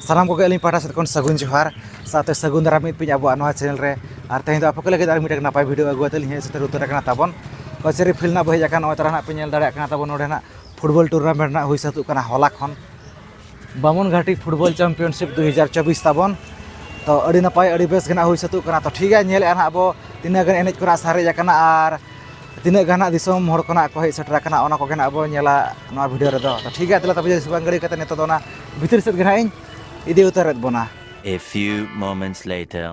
ᱥᱟᱱᱟᱢ ᱠᱚᱜᱮ ᱟᱹᱞᱤᱧ ᱯᱟᱦᱴᱟ ᱥᱮᱫ ᱠᱷᱚᱱ ᱥᱟᱹᱜᱩᱱ ᱡᱚᱦᱟᱨ ᱥᱟᱶᱛᱮ ᱥᱟᱹᱜᱩᱱ ᱫᱟᱨᱟᱢ ᱢᱤᱫ ᱯᱤᱧ ᱟᱵᱚᱣᱟᱜ ᱱᱚᱣᱟ ᱪᱮᱱᱮᱞ ᱨᱮ ᱟᱨ ᱛᱮᱦᱮᱧ ᱫᱚ ᱟᱯᱮ ᱠᱚ ᱞᱟᱹᱜᱤᱫ ᱟᱨ ᱢᱤᱫᱴᱟᱝ ᱱᱟᱯᱟᱭ ᱵᱷᱤᱰᱤᱭᱳ ᱟᱹᱜᱩ ᱠᱟᱛᱮᱫ ᱞᱤᱧ ᱦᱮᱡ ᱥᱮᱴᱮᱨ ᱩᱛᱟᱹᱨ ᱟᱠᱟᱱᱟ ᱛᱟᱵᱚᱱ ᱠᱟᱹᱪᱟᱹᱨᱤ ᱯᱷᱤᱞᱰ ᱨᱮᱱᱟᱜ ᱵᱚᱱ ᱦᱮᱡ ᱟᱠᱟᱱᱟ ᱱᱚᱜᱼᱚᱭ ᱛᱚᱨᱟ ᱱᱟᱜ ᱯᱮ ᱧᱮᱞ ᱫᱟᱲᱮᱭᱟᱜ ᱠᱟᱱᱟ ᱛᱟᱵᱚᱱ ᱱᱚᱰᱮ ᱱᱟᱜ ᱯᱷᱩᱴᱵᱚᱞ ᱴᱩᱨᱱᱟᱢᱮᱱᱴ ᱨᱮᱱᱟᱜ ᱦᱩᱭ ᱥᱟᱹᱛᱚᱜ ᱠᱟᱱᱟ ᱦᱚᱞᱟ ᱠᱷᱚᱱ ᱵᱟᱢᱚᱱ ᱜᱷᱟᱴᱤ ᱯᱷᱩᱴᱵᱚᱞ ᱪᱟᱢᱯᱤᱭᱚᱱᱥᱤᱯ ᱫᱩ ᱦᱟᱡᱟᱨ ᱪᱚᱵᱵᱤᱥ ᱛᱟᱵᱚᱱ ᱛᱚ ᱟᱹᱰᱤ ᱱᱟᱯᱟᱭ ᱟᱹᱰᱤ ᱵᱮᱥ ᱜᱮ ᱱᱟᱜ ᱦᱩᱭ ᱥᱟᱹᱛᱚᱜ ᱠᱟᱱᱟ ᱛᱚ ᱴᱷᱤᱠ ᱜᱮᱭᱟ ᱧᱮᱞᱮᱫᱼᱟ ᱱᱟᱜ ᱟᱵᱚ ᱛᱤᱱᱟᱹᱜ ᱜᱟᱱ ᱮᱱᱮᱡ ᱠᱚ ᱱᱟᱜ ᱥᱟᱨᱮᱡ ᱟᱠᱟᱱᱟ ᱟᱨ ᱛᱤᱱᱟᱹᱜ ᱜᱟᱱ ᱦᱟᱸᱜ ᱫᱤᱥᱚᱢ ᱦᱚᱲ ᱠᱚ ᱱᱟᱜ ᱠᱚ ᱦᱮᱡ ᱥᱮᱴᱮᱨ ᱟᱠᱟᱱᱟ ᱚᱱᱟ ᱠᱚᱜᱮ ᱱᱟᱜ ᱵᱚ ᱧᱮᱞᱟ ᱱᱚᱣᱟ ᱵᱷᱤᱰᱤᱭᱳ ᱨᱮᱫᱚ ᱴᱷᱤᱠ ᱜᱮᱭᱟ ᱛᱟᱦᱚᱞᱮ ᱛᱚᱵᱮ ᱥᱩᱵᱟᱝ ᱜᱟᱹᱲᱤ ᱠᱟᱛᱮ ᱱᱤᱛᱚᱜ ᱫᱚ ᱚᱱᱟ ᱵᱷᱤᱛᱤᱨ ᱥᱮᱫ ᱜᱮ ᱱᱟᱜ ᱤᱧ ᱤᱫᱤ ᱩᱛᱟᱹᱨᱮᱫ ᱵᱚᱱᱟ A few moments later.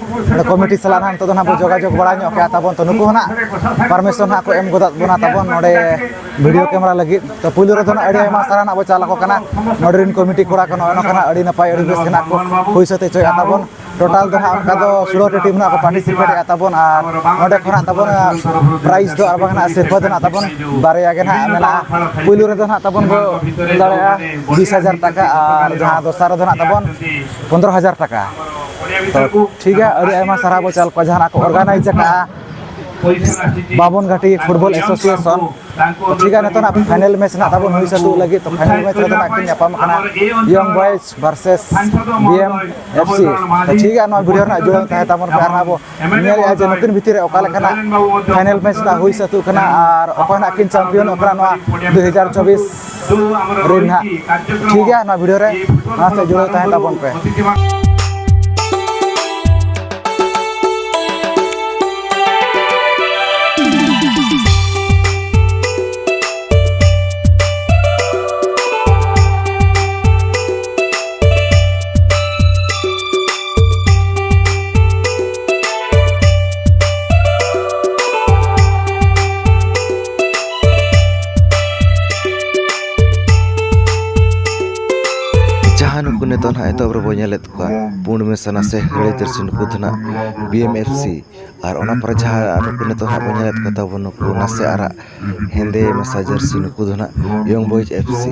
ᱱᱚᱰᱮ ᱠᱚᱢᱤᱴᱤ ᱥᱟᱞᱟᱜ ᱱᱟᱦᱟᱜ ᱱᱤᱛᱚᱜ ᱫᱚ ᱱᱟᱦᱟᱜ ᱵᱚ ᱡᱳᱜᱟᱡᱳᱜᱽ ᱵᱟᱲᱟ ᱧᱚᱜ ᱠᱮᱜᱼᱟ ᱛᱟᱵᱚᱱ ᱛᱚ ᱱᱩᱠᱩ ᱦᱚᱸ ᱱᱟᱦᱟᱜ ᱯᱟᱨᱢᱤᱥᱚᱱ ᱱᱟᱦᱟᱜ ᱠᱚ ᱮᱢ ᱜᱚᱫᱟᱜ ᱵᱚᱱᱟ ᱛᱟᱵᱚᱱ ᱱᱚᱰᱮ ᱵᱷᱤᱰᱤᱭᱳ ᱠᱮᱢᱮᱨᱟ ᱞᱟᱹᱜᱤᱫ ᱛᱚ ᱯᱩᱭᱞᱩ ᱨᱮᱫᱚ ᱱᱟᱦᱟᱜ ᱟᱹᱰᱤ ᱟᱭᱢᱟ ᱥᱟᱨᱦᱟᱣ ᱱᱟᱦᱟᱜ ᱵᱚ ᱪᱟᱞ ᱟᱠᱚ ᱠᱟᱱᱟ ᱱᱚᱰᱮ ᱨᱮᱱ ᱠᱚᱢᱤᱴᱤ ᱠᱚᱲᱟ ᱠᱚ ᱱᱚᱜᱼᱚᱭ ᱱᱚᱝᱠᱟ ᱱᱟᱦᱟᱜ ᱟᱹᱰᱤ ᱱᱟᱯᱟᱭ ᱟᱹᱰᱤ ᱵᱮᱥ ᱜᱮ ᱱᱟᱦᱟᱜ ᱠᱚ ᱦᱩᱭ ᱥᱟᱹᱛ ᱦᱚᱪᱚᱭᱮᱜᱼᱟ ᱛᱟᱵᱚᱱ ᱴᱳᱴᱟᱞ ᱫᱚ ᱱᱟᱦᱟᱜ ᱚᱱᱠᱟ ᱫᱚ ᱥᱳᱞᱳᱴᱤ ᱴᱤᱢ ᱱᱟᱦᱟᱜ ᱠᱚ ᱯᱟᱨᱴᱤᱥᱤᱯᱮᱴᱮᱜᱼᱟ ᱛᱟᱵᱚᱱ ᱟᱨ ᱱᱚᱰᱮ ᱠᱷᱚᱱᱟᱜ ᱛᱟᱵᱚᱱ ᱯᱨᱟᱭᱤᱡᱽ ᱫᱚ ᱟᱨ ᱵᱟᱝ ᱱᱟᱦᱟᱜ ᱥᱤᱨᱯᱟᱹ ᱫᱚ ᱱᱟᱦᱟᱜ ᱛᱟᱵᱚᱱ ᱵᱟᱨᱭᱟ ᱜᱮ ᱱᱟᱦᱟᱜ ᱢᱮᱱᱟᱜᱼᱟ ᱯᱩᱭᱞᱩ ᱨᱮᱫᱚ ᱱᱟᱦᱟᱜ ᱛᱟᱵᱚᱱ ᱵᱚ ᱫᱟᱲᱮᱭᱟᱜᱼᱟ ᱵᱤᱥ ᱦᱟᱡᱟᱨ ᱴᱟᱠᱟ ᱟᱨ ᱡᱟᱦᱟᱸ ᱫᱚᱥᱟᱨ ᱨᱮᱫᱚ ᱱᱟᱦᱟᱜ ᱛᱟᱵᱚᱱ ᱯᱚᱸᱫᱽᱨᱚ ᱦᱟᱡᱟᱨ ᱴᱟᱠᱟ ᱴᱷᱤᱠ ᱜᱮᱭᱟ ᱟᱹᱰᱤ ᱟᱭᱢᱟ ᱥᱟᱨᱦᱟᱣ ᱵᱚᱱ ᱪᱟᱞ ᱠᱚᱣᱟ ᱡᱟᱦᱟᱱᱟᱜ ᱠᱚ ᱚᱨᱜᱟᱱᱟᱭᱤᱡᱽ ᱟᱠᱟᱫᱼᱟ ᱵᱟᱵᱚᱱ ᱜᱷᱟᱴᱤ ᱯᱷᱩᱴᱵᱚᱞ ᱮᱥᱳᱥᱤᱭᱮᱥᱚᱱ ᱴᱷᱤᱠ ᱜᱮᱭᱟ ᱱᱤᱛᱚᱜ ᱱᱟᱜ ᱯᱷᱟᱭᱱᱮᱞ ᱢᱮᱪ ᱱᱟᱜ ᱛᱟᱵᱚᱱ ᱦᱩᱭ ᱥᱟᱹᱛᱚᱜ ᱞᱟᱹᱜᱤᱫ ᱛᱚ ᱯᱷᱟᱭᱱᱮᱞ ᱢᱮᱪ ᱨᱮᱫᱚ ᱱᱟᱜ ᱠᱤᱱ ᱧᱟᱯᱟᱢ ᱠᱟᱱᱟ young boys versus B M F C ᱴᱷᱤᱠ ᱜᱮᱭᱟ ᱱᱚᱣᱟ ᱵᱷᱤᱰᱤᱭᱳ ᱨᱮᱱᱟᱜ ᱡᱩᱲᱟᱹᱣ ᱛᱟᱦᱮᱸ ᱛᱟᱵᱚᱱ ᱯᱮ ᱟᱨ ᱟᱵᱚ ᱧᱮᱞ ᱮᱫᱟ ᱡᱮ ᱱᱩᱠᱤᱱ ᱵᱷᱤᱛᱤᱨ ᱨᱮ ᱚᱠᱟ ᱞᱮᱠᱟᱱᱟᱜ ᱯᱷᱟᱭᱱᱮᱞ ᱢᱮᱪ ᱱᱟᱜ ᱦᱩᱭ ᱥᱟᱹᱛᱩᱜ ᱠᱟᱱᱟ ᱟᱨ ᱚᱠᱚᱭ ᱱᱟᱜ ᱠᱤᱱ ᱪᱟᱢᱯᱤᱭᱚᱱᱚᱜ ᱠᱟᱱᱟ ᱱᱚᱣᱟ ᱫᱩ ᱦᱟᱡᱟᱨ ᱪᱚᱵᱵᱤᱥ ᱨᱮ ᱱᱟᱜ ᱴᱷᱤᱠ ᱜᱮᱭᱟ ᱱᱚᱣᱟ ᱵᱷᱤᱰᱤᱭᱳ ᱨᱮ ᱚᱱᱟ ᱥᱟᱶ ᱡᱩᱲᱟᱹᱣ ᱛᱟᱦᱮᱸ ᱛᱟᱵᱚᱱ ᱯᱮ ᱡᱟᱦᱟᱸ ᱱᱩᱠᱩ ᱱᱤᱛᱚᱜ ᱱᱟᱦᱟᱜ ᱮᱛᱚᱦᱚᱵ ᱨᱮᱵᱚ ᱧᱮᱞᱮᱫ ᱠᱚᱣᱟ ᱯᱩᱸᱰ ᱢᱮᱥᱟ ᱱᱟᱥᱮ ᱦᱟᱹᱲᱭᱟᱹ ᱡᱟᱹᱨᱥᱤ ᱱᱩᱠᱩ ᱫᱚ ᱱᱟᱦᱟᱜ ᱵᱤ ᱮᱢ ᱮᱯᱷ ᱥᱤ ᱟᱨ ᱚᱱᱟ ᱯᱚᱨᱮ ᱡᱟᱦᱟᱸ ᱱᱩᱠᱩ ᱱᱤᱛᱚᱜ ᱱᱟᱦᱟᱜ ᱵᱚᱱ ᱧᱮᱞᱮᱫ ᱠᱚ ᱛᱟᱵᱚᱱ ᱱᱩᱠᱩ ᱱᱟᱥᱮ ᱟᱨᱟᱜ ᱦᱮᱸᱫᱮ ᱢᱮᱥᱟ ᱡᱟᱹᱨᱥᱤ ᱱᱩᱠᱩ ᱫᱚ ᱱᱟᱦᱟᱜ ᱤᱭᱚᱝ ᱵᱚᱭᱮᱡᱽ ᱮᱯᱷ ᱥᱤ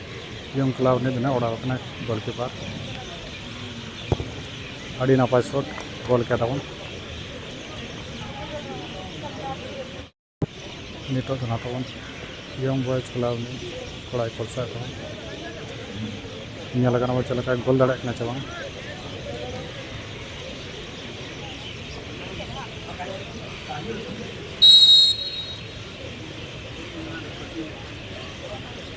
ᱡᱚᱝ ᱠᱞᱟᱵᱽ ᱨᱤᱱᱤᱡ ᱵᱮᱱᱟᱣ ᱚᱲᱟᱜ ᱠᱟᱱᱟᱭ ᱜᱳᱞᱠᱤᱯᱟᱨ ᱟᱹᱰᱤ ᱱᱟᱯᱟᱭ ᱥᱚᱴ ᱜᱳᱞ ᱠᱮᱫᱟ ᱵᱚᱱ ᱱᱤᱛᱚᱜ ᱫᱚ ᱱᱟᱦᱟᱜ ᱛᱟᱵᱚᱱ ᱡᱚᱝ ᱵᱚᱭᱮᱡᱽ ᱠᱞᱟᱵᱽ ᱨᱤᱱᱤᱡ ᱠᱚᱲᱟᱭ ᱠᱚᱞᱥᱟ ᱠᱚ ᱧᱮᱞ ᱠᱟᱱᱟ ᱵᱚᱱ ᱪᱮᱫ ᱞᱮᱠᱟᱭ ᱜᱳᱞ ᱫᱟᱲᱮᱭᱟᱜ ᱠᱟᱱᱟ ᱥᱮ ᱵᱟᱝ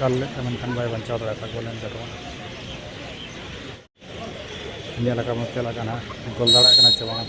ᱫᱟᱞ ᱞᱮᱫ ᱛᱮ ᱢᱮᱱᱠᱷᱟᱱ ᱵᱟᱭ ᱵᱟᱧᱪᱟᱣ ᱫᱟᱲᱮ ᱠᱟᱫᱟ ᱜᱳᱞᱮᱱ ᱡᱟᱫᱚᱵ ᱧᱮᱞ ᱟᱠᱟᱫ ᱵᱚᱱ ᱪᱮᱫ ᱞᱮᱠᱟ ᱱᱟᱦᱟᱜ ᱜᱳᱞ ᱫᱟᱲᱮᱭᱟᱜ ᱠᱟᱱᱟ ᱥᱮ ᱵᱟᱝ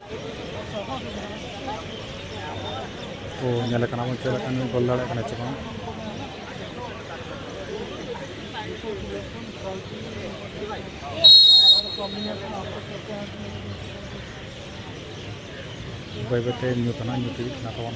ᱠᱚ ᱧᱮᱞ ᱠᱟᱱᱟ ᱵᱚᱱ ᱪᱮᱫ ᱞᱮᱠᱟᱱ ᱜᱚᱞ ᱫᱟᱲᱮᱭᱟᱜ ᱠᱟᱱᱟ ᱪᱮ ᱵᱟᱝ ᱵᱟᱹᱭ ᱵᱟᱹᱭᱛᱮ ᱧᱩᱛ ᱦᱟᱸᱜ ᱧᱩᱛ ᱤᱫᱤᱜ ᱠᱟᱱᱟ ᱛᱟᱵᱚᱱ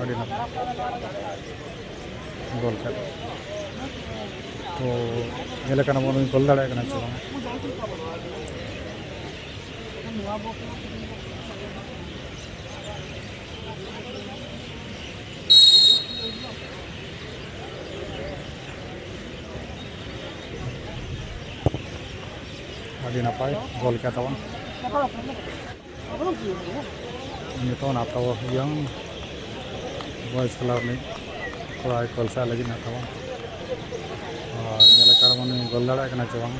ᱟᱹᱰᱤ ᱱᱟᱯᱟᱭ ᱜᱚᱞ ᱠᱮᱫ ᱛᱚ ᱧᱮᱞ ᱠᱟᱱᱟ ᱵᱚᱱ ᱩᱱᱤ ᱜᱚᱞ ᱫᱟᱲᱮᱭᱟᱜ ᱠᱟᱱᱟ ᱥᱮ ᱵᱟᱝ ᱟᱹᱰᱤ ᱱᱟᱯᱟᱭ ᱜᱚᱞ ᱠᱮᱫ ᱛᱟᱵᱚᱱ ᱱᱤᱛᱚᱜ ᱱᱟᱛᱟᱣ ᱤᱭᱚᱝ ᱵᱚᱭᱮᱥ ᱠᱞᱟᱵᱽ ᱨᱤᱱᱤᱡ ᱠᱚᱲᱟᱭ ᱠᱚᱞᱥᱟ ᱞᱟᱹᱜᱤᱫ ᱱᱟᱛᱟᱣᱟ ᱟᱨ ᱧᱮᱞ ᱟᱠᱟᱫ ᱵᱚᱱ ᱜᱚᱞ ᱫᱟᱲᱮᱭᱟᱜ ᱠᱟᱱᱟ ᱪᱮ ᱵᱟᱝ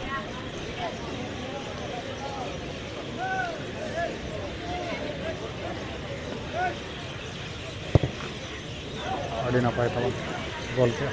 ᱟᱹᱰᱤ ᱱᱟᱯᱟᱭ ᱛᱟᱵᱚᱱ ᱜᱚᱞ ᱠᱮᱫᱼᱟ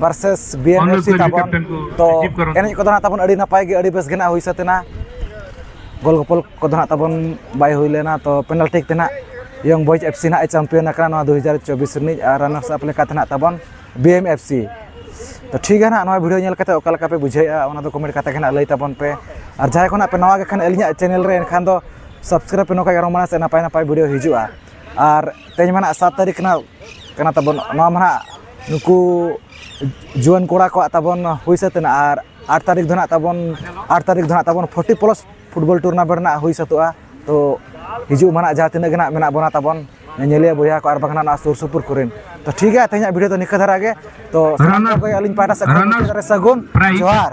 ᱵᱟᱨᱥᱮᱥ ᱵᱤᱭᱮᱱᱮᱥᱤ ᱛᱟᱵᱚᱱ ᱛᱚ ᱮᱱᱮᱡ ᱠᱚᱫᱚ ᱱᱟᱜ ᱛᱟᱵᱚᱱ ᱟᱹᱰᱤ ᱱᱟᱯᱟᱭ ᱜᱮ ᱟᱹᱰᱤ ᱵᱮᱥ ᱜᱮ ᱱᱟᱜ ᱦᱩᱭ ᱥᱟᱹᱛ ᱮᱱᱟ ᱜᱳᱞ ᱜᱚᱯᱚᱞ ᱠᱚᱫᱚ ᱱᱟᱜ ᱛᱟᱵᱚᱱ ᱵᱟᱭ ᱦᱩᱭ ᱞᱮᱱᱟ ᱛᱚ ᱯᱮᱱᱟᱞᱴᱤ ᱛᱮ ᱱᱟᱜ ᱭᱚᱝ ᱵᱚᱭᱡᱽ ᱮᱯᱷ ᱥᱤ ᱱᱟᱜ ᱮ ᱪᱟᱢᱯᱤᱭᱚᱱ ᱟᱠᱟᱱᱟ ᱱᱚᱣᱟ ᱫᱩ ᱦᱟᱡᱟᱨ ᱪᱚᱵᱵᱤᱥ ᱨᱤᱱᱤᱡ ᱟᱨ ᱨᱟᱱᱟᱨᱥ ᱟᱯ ᱞᱮᱠᱟᱛᱮ ᱱᱟᱜ ᱛᱟᱵᱚᱱ ᱵᱤ ᱮᱢ ᱮᱯᱷ ᱥᱤ ᱛᱚ ᱴᱷᱤᱠ ᱜᱮᱭᱟ ᱱᱟᱜ ᱱᱚᱣᱟ ᱵᱷᱤᱰᱤᱭᱳ ᱧᱮᱞ ᱠᱟᱛᱮ ᱚᱠᱟ ᱞᱮᱠᱟ ᱯᱮ ᱵᱩᱡᱷᱟᱹᱣᱮᱜᱼᱟ ᱚᱱᱟ ᱫᱚ ᱠᱚᱢᱮᱱᱴ ᱠᱟᱛᱮ ᱜᱮ ᱱᱟᱜ ᱞᱟᱹᱭ ᱛᱟᱵᱚᱱ ᱯᱮ ᱟᱨ ᱡᱟᱦᱟᱸᱭ ᱠᱚ ᱱᱟᱜ ᱯᱮ ᱱᱟᱣᱟ ᱜᱮ ᱠᱷᱟᱱ ᱟᱹᱞᱤᱧᱟᱜ ᱪᱮᱱᱮᱞ ᱨᱮ ᱮᱱᱠᱷᱟᱱ ᱫᱚ ᱥᱟᱵᱥᱠᱨᱟᱭᱤᱵᱽ ᱯᱮ ᱱᱚᱝᱠᱟ ᱜᱮ ᱟᱨᱚ ᱢᱟᱲᱟᱝ ᱥᱮᱫ ᱱᱟᱯᱟᱭ ᱱᱟᱯᱟᱭ ᱵᱷᱤᱰᱤᱭᱳ ᱦᱤᱡᱩᱜᱼᱟ ᱟᱨ ᱛᱮᱦᱮᱧ ᱢᱟ ᱱᱟᱜ ᱥᱟᱛ ᱛᱟᱹᱨᱤᱠᱷ ᱠᱟᱱᱟ ᱠᱟᱱᱟ ᱛᱟᱵᱚᱱ ᱱᱚᱣᱟ ᱢᱟ ᱱᱟᱜ ᱱᱩᱠᱩ ᱡᱩᱣᱟᱹᱱ ᱠᱚᱲᱟ ᱠᱚᱣᱟᱜ ᱛᱟᱵᱚᱱ ᱦᱩᱭ ᱥᱟᱹᱛ ᱮᱱᱟ ᱟᱨ ᱟᱴ ᱛᱟᱹᱨᱤᱠᱷ ᱫᱚ ᱱᱟᱜ ᱛᱟᱵᱚᱱ ᱟᱴ ᱛᱟᱹᱨᱤᱠᱷ ᱫᱚ ᱱᱟᱜ ᱛᱟᱵᱚᱱ ᱯᱷᱳᱨᱴᱤ ᱯᱞᱟᱥ ᱯᱷᱩᱴᱵᱚᱞ ᱴᱩᱨᱱᱟᱢᱮᱱᱴ ᱱᱟᱜ ᱦᱩᱭ ᱥᱟᱹᱛᱚᱜᱼᱟ ᱛᱚ ᱦᱤᱡᱩᱜ ᱢᱟᱱᱟᱜ ᱡᱟᱦᱟᱸ ᱛᱤᱱᱟᱹᱜ ᱜᱮ ᱱᱟᱜ ᱢᱮᱱᱟᱜ ᱵᱚᱱᱟ ᱛᱟᱵᱚᱱ ᱧᱮᱧᱮᱞᱤᱭᱟᱹ ᱵᱚᱭᱦᱟ ᱠᱚ ᱟᱨ ᱵᱟᱝ ᱱᱟᱜ ᱱᱚᱣᱟ ᱥᱩᱨ ᱥᱩᱯᱩᱨ ᱠᱚᱨᱮᱱ ᱛᱚ ᱴᱷᱤᱠ ᱜᱮᱭᱟ ᱛᱮᱦᱮᱧᱟᱜ ᱵᱷᱤᱰᱤᱭᱳ ᱫᱚ ᱱᱤᱝᱠᱟᱹ ᱫᱷᱟᱨᱟ ᱜᱮ ᱛᱚ ᱥᱟᱱᱟᱢ ᱠᱚᱜᱮ ᱟᱹᱞᱤᱧ ᱯᱟᱦᱴᱟ ᱥᱮᱫ ᱠᱷᱚᱱ ᱢᱩᱪᱟᱹᱫ ᱨᱮ ᱥᱟᱹᱜᱩᱱ ᱡᱚᱦᱟᱨ